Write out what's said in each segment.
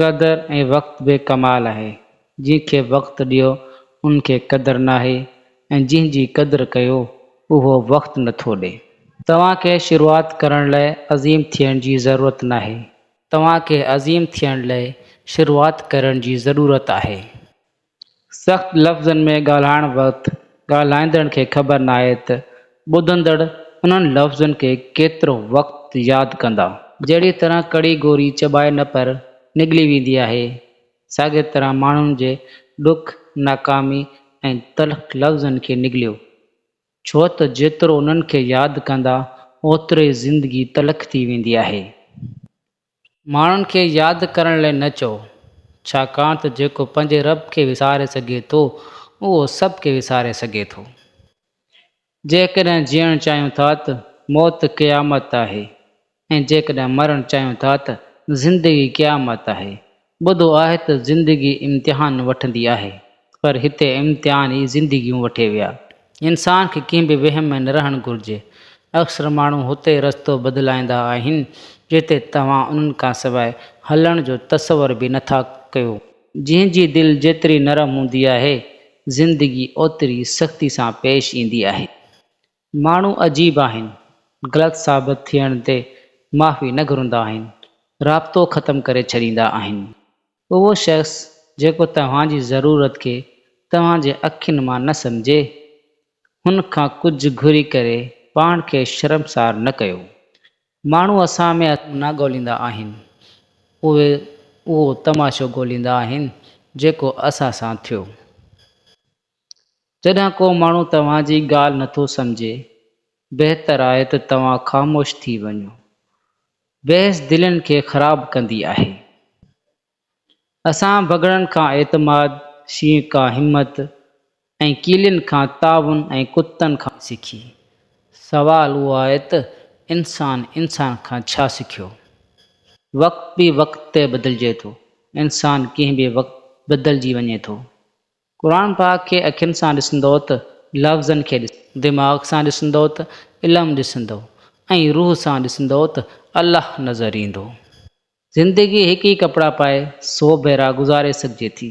قدر ۽ وقت به ڪمال آهي، جنهن کي وقت ڏيو ان کي قدر ناهي ۽ جنهن جي قدر ڪيو اهو وقت نٿو ڏي. توهان کي شروعات ڪرڻ لاء عظيم ٿيڻ جي ضرورت ناهي. توهان کي عظيم ٿيڻ لاء شروعات ڪرڻ جي ضرورت آهي. سخت لفظن ۾ ڳالهائڻ وقت ڳالهائيندڙ کي خبر ناهي ته ٻڌندڙ انهن لفظن کي ڪيترو وقت ياد ڪندا. جهڙيء طرح ڪڙي گوري چٻائي نه پر نگلي ويندي آهي، ساڳيء طرح ماڻهن جي ڏک، ناڪامي ۽ تلخ لفظن کي نگليو، ڇو ته جيترو انهن کي ياد ڪندا، اوترو ئي زندگي تلخ ٿي ويندي آهي. ماڻهن کي ياد ڪرڻ لاء نه چئو، ڇاڪاڻ ته جيڪو پنهنجي رب کي وساري سگهي ٿو، اهو سڀ ڪي وساري سگهي ٿو. جيڪڏهن جيئڻ چاهيون ٿا ته موت قيامت آهي ۽ جيڪڏهن مرڻ چاهيون ٿا ته زندگي قيامت آهي ٻڌو آهي ته زندگي امتحان وٺندي آهي پر هتي امتحان ئي زندگيون وٺي ويا. انسان کي ڪنهن به وهم ۾ نه رهڻ گهرجي. اڪثر ماڻهو هتي رستو بدلائيندا آهن جتي توهان انهن کان سواء هلڻ جو تصور به نه ٿا ڪيو. جنهن جي دل جيتري نرم هوندي آهي زندگي اوتري سختي سان پيش ايندي آهي. ماڻهو عجيب آهن، غلط ثابت ٿيڻ تي معافي نه گهرندا آهن، رابطو ختم ڪري ڇڏيندا آهن. اهو شخص جيڪو توهان جي ضرورت کي توهان جي اکين مان نه سمجهي، هن کان ڪجهه گهري ڪري پاڻ کي شرمسار نه ڪيو. ماڻهو اسان ۾ اصل نه ڳوليندا آهن، اهي اهو تماشو ڳوليندا آهن جيڪو اسان سان ٿيو. جڏهن ڪو ماڻهو توهان جي ڳالهه نٿو سمجهي، بهتر آهي ته توهان خاموش ٿي وڃو. بحث دلين کي خراب ڪندي آهي. اسان بگهڙن کان اعتماد، شينهن کان همت ۽ ڪيلين کان تعاون ۽ ڪتن کان. سکي. سوال اهو آهي ته انسان انسان کان ڇا سکيو؟ وقت به وقت تي بدلجي ٿو. انسان ڪنهن به وقت بدلجي وڃي ٿو. قرآن پاڪ کي اکين سان ڏسندؤ ته لفظن کي ڏسندؤ. دماغ سان ڏسندؤ ته علم ڏسندؤ ۽ روح سان ڏسندؤ ته الله نظر ايندو. زندگي هڪ ئي ڪپڙا پائي سو ڀيرا گذاري سگهجي ٿي.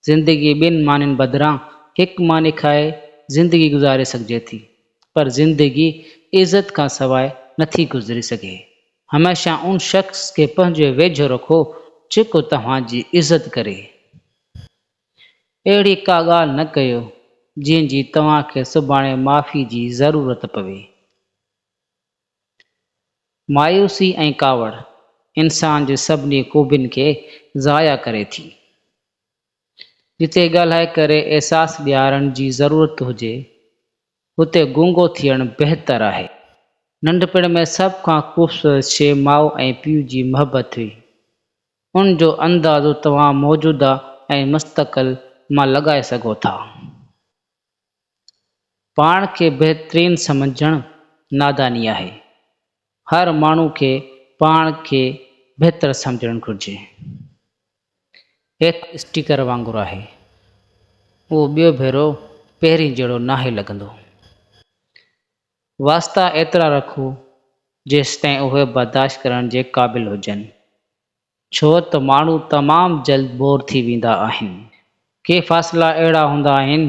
زندگي ٻن مانين بدران هڪ ماني کائي زندگي گذاري سگهجي ٿي. پر زندگي عزت کان سواء نٿي گذري سگهي. هميشه ان شخص کي پنهنجي ويجهو رکو جيڪو توهان جي عزت ڪري. اهڙي ڪا ڳالهه نه ڪيو جنهن جي توهان کي سڀاڻي معافي جي ضرورت پوي. مايوسي ۽ ڪاوڙ انسان جي سڀني خوبين کي ضايع ڪري ٿي. جتي ڳالهائي ڪري احساس ڏيارڻ جي ضرورت هجي اتي گونگو ٿيڻ بهتر آهي. ننڍپڻ ۾ سڀ کان خوبصورت شيء ماء ۽ پيء جي محبت هئي. ان جو اندازو توهان موجوده ۽ مستقل مان لڳائي سگهو ٿا. پاڻ کي بهترين سمجهڻ ناداني آهي. هر ماڻهو کي پاڻ کي بهتر سمجهڻ گهرجي. ايڪ اسٽيڪر وانگر آهي. اهو ٻيو ڀيرو پهرين جهڙو ناهي لڳندو. واسطا ايترا رکو جيستائين اهي برداشت ڪرڻ جي قابل هجن، ڇو ته ماڻهو تمام جلد بور ٿي ويندا آهن. ڪي فاصلا اهڙا هوندا آهن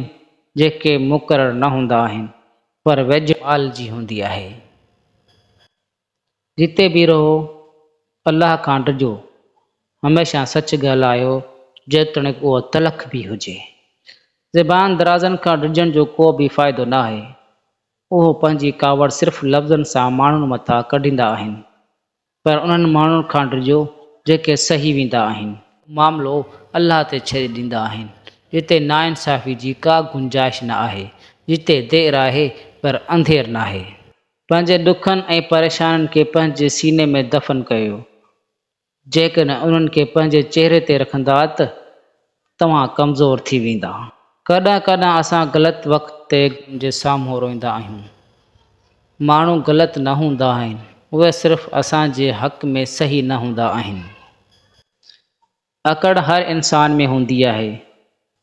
جيڪي مقرر نه هوندا آهن پر ويجهوال جي هوندي آهي. جتي به رهو، الله کان ڊڄو، هميشه سچ ڳالهايو، جيتوڻيڪ اهو تلخ به هجي. زبان درازن کان ڊڄڻ جو ڪو به فائدو ناهي. اهو پنهنجي ڪاوڙ صرف لفظن سان ماڻهن مٿان ڪڍيندا آهن. پر انهن ماڻهن کان ڊڄو، جيڪي سهي ويندا آهن. معاملو الله تي ڇڏي ڏيندا آهن. جتي ناانصافي جي ڪا گنجائش نه آهي. جتي دير آهي، پر انڌير ناهي. پنهنجي ڏکن ۽ پريشانين کي پنهنجي سيني ۾ دفن ڪيو. جيڪڏهن انهن کي پنهنجي چهري تي رکندات توهان ڪمزور ٿي ويندا. ڪڏهن ڪڏهن اسان غلط وقت تي غم جي سامهون روئيندا آهيون. ماڻهو غلط نه هوندا آهن اهي صرف اسان جي حق ۾ صحيح نه هوندا آهن. اڪڙ هر انسان ۾ هوندي آهي،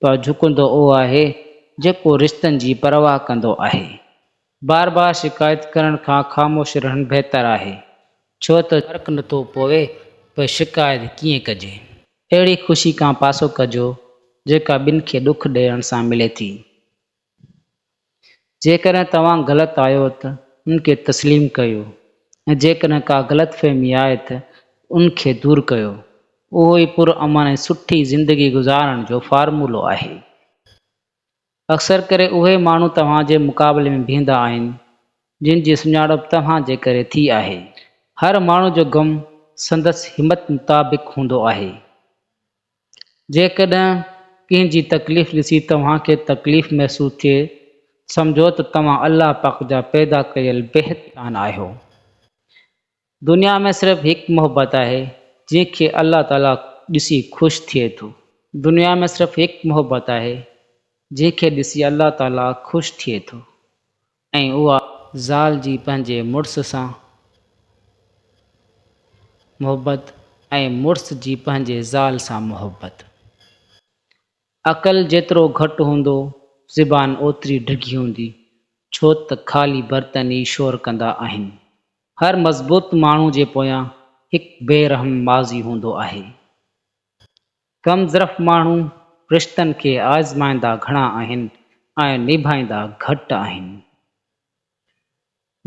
پر جهڪندو اهو آهي، جيڪو رشتن جي پرواهه ڪندو آهي. بار بار شڪايت ڪرڻ کان خاموش رهڻ بهتر آهي، ڇو ته. فرق نٿو پوي ته شڪايت ڪيئن ڪجي. اهڙي خوشي کان پاسو ڪجو، جيڪا ٻين کي ڏک ڏيڻ سان ملي ٿي. جيڪڏهن توهان غلط آهيو ته ان کي تسليم ڪيو ۽ جيڪڏهن ڪا غلط فهمي آهي ته ان کي دور ڪيو. اهو ئي پر امن ۽ سٺي زندگي گذارڻ جو فارمولو آهي. اڪثر ڪري اهي ماڻهو توهان جي مقابلي ۾ بيهندا آهن جن جي سڃاڻپ توهان جي ڪري ٿي آهي. هر ماڻهو جو غم سندس همت مطابق هوندو آهي. جيڪڏهن ڪنهن جي تڪليف ڏسي توهان کي تڪليف محسوس ٿئي، سمجهو ته توهان الله پاڪ جا پيدا ڪيل بيحد جان آهيو. دنيا ۾ صرف هڪ محبت آهي جنهن کي الله تعاليٰ ڏسي خوش ٿئي ٿو. دنيا ۾ صرف هڪ محبت آهي جنهن کي ڏسي الله تعاليٰ خوش ٿئي ٿو. ۽ اها زال جي پنهنجي مڙس سان محبت ۽ مڙس جي پنهنجي زال سان محبت. عقل جيترو گهٽ هوندو، زبان اوتري ڊگهي هوندي، ڇو ته خالي برتن ئي شور ڪندا آهن. هر مضبوط ماڻهو جي پويان هڪ بي رحم ماضي هوندو آهي. ڪم ظرف ماڻهو رشتن کي آزمائيندا گهڻا آهن ۽ نڀائيندا گهٽ آهن.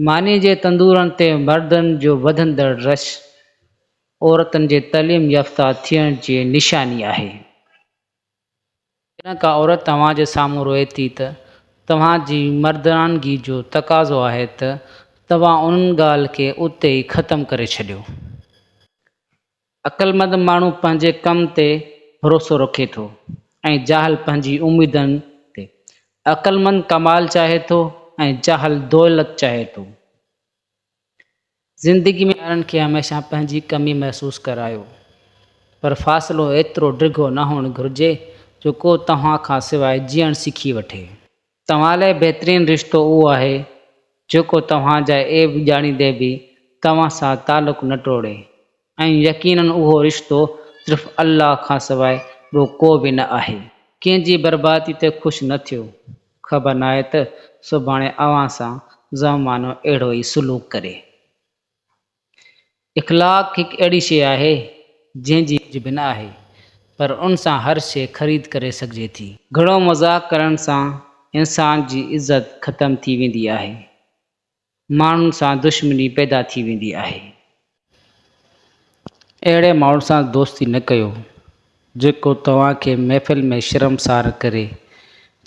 ماني جي تندورن تي مردن جو وڌندڙ رش عورتن جي تعليم يافته ٿيڻ جي نشاني آهي. جڏهن ڪا عورت توهان جي سامهون روئي ٿي ته توهان جي مردانگي جو تقاضو آهي ته توهان ان ڳالهه کي اتي ئي ختم ڪري ڇڏيو. عقلمند ماڻهو پنهنجي ڪم تي ڀروسو رکي ٿو ۽ جاهل پنهنجي اميدن تي. عقلمند ڪمال چاهي ٿو ۽ جاهل دولت چاهي ٿو. زندگي ۾ ٻارن کي هميشه پنهنجي ڪمي محسوس ڪرايو، پر فاصلو ايترو ڊگهو نه هئڻ گهرجي جو ڪو توهان کان سواء جيئڻ سکي وٺي. توهان لاء بهترين رشتو اهو آهي، جيڪو توهان جا عيب ڄاڻيندي به توهان سان تعلق نه ٽوڙي ۽ يقيناً اهو رشتو صرف الله کانسواء ٻيو ڪو به نه آهي. ڪنهن جي بربادي تي خوش نه ٿيو، خبر ناهي ته سڀاڻي اوهان سان زمانو اهڙو ئي سلوڪ ڪري. اخلاق هڪ اهڙي شيء آهي، جنهن جي ڪجهه به نه آهي، پر ان سان هر شيء خريد ڪري سگهجي ٿي. گهڻو مذاق ڪرڻ سان انسان جي عزت ختم ٿي ويندي آهي، ماڻهن سان دشمني پيدا ٿي ويندي آهي. اهڙي ماڻهن سان دوستي نه ڪيو، جيڪو توهان کي محفل ۾ شرمسار ڪري،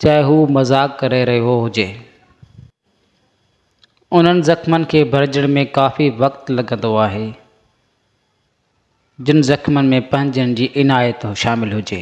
چاهي هو مذاق ڪري رهيو هجي. انهن زخمن کي ڀرجڻ ۾ ڪافي وقت لڳندو آهي، جن زخمن ۾ پنهنجن جي عنايت شامل هجي.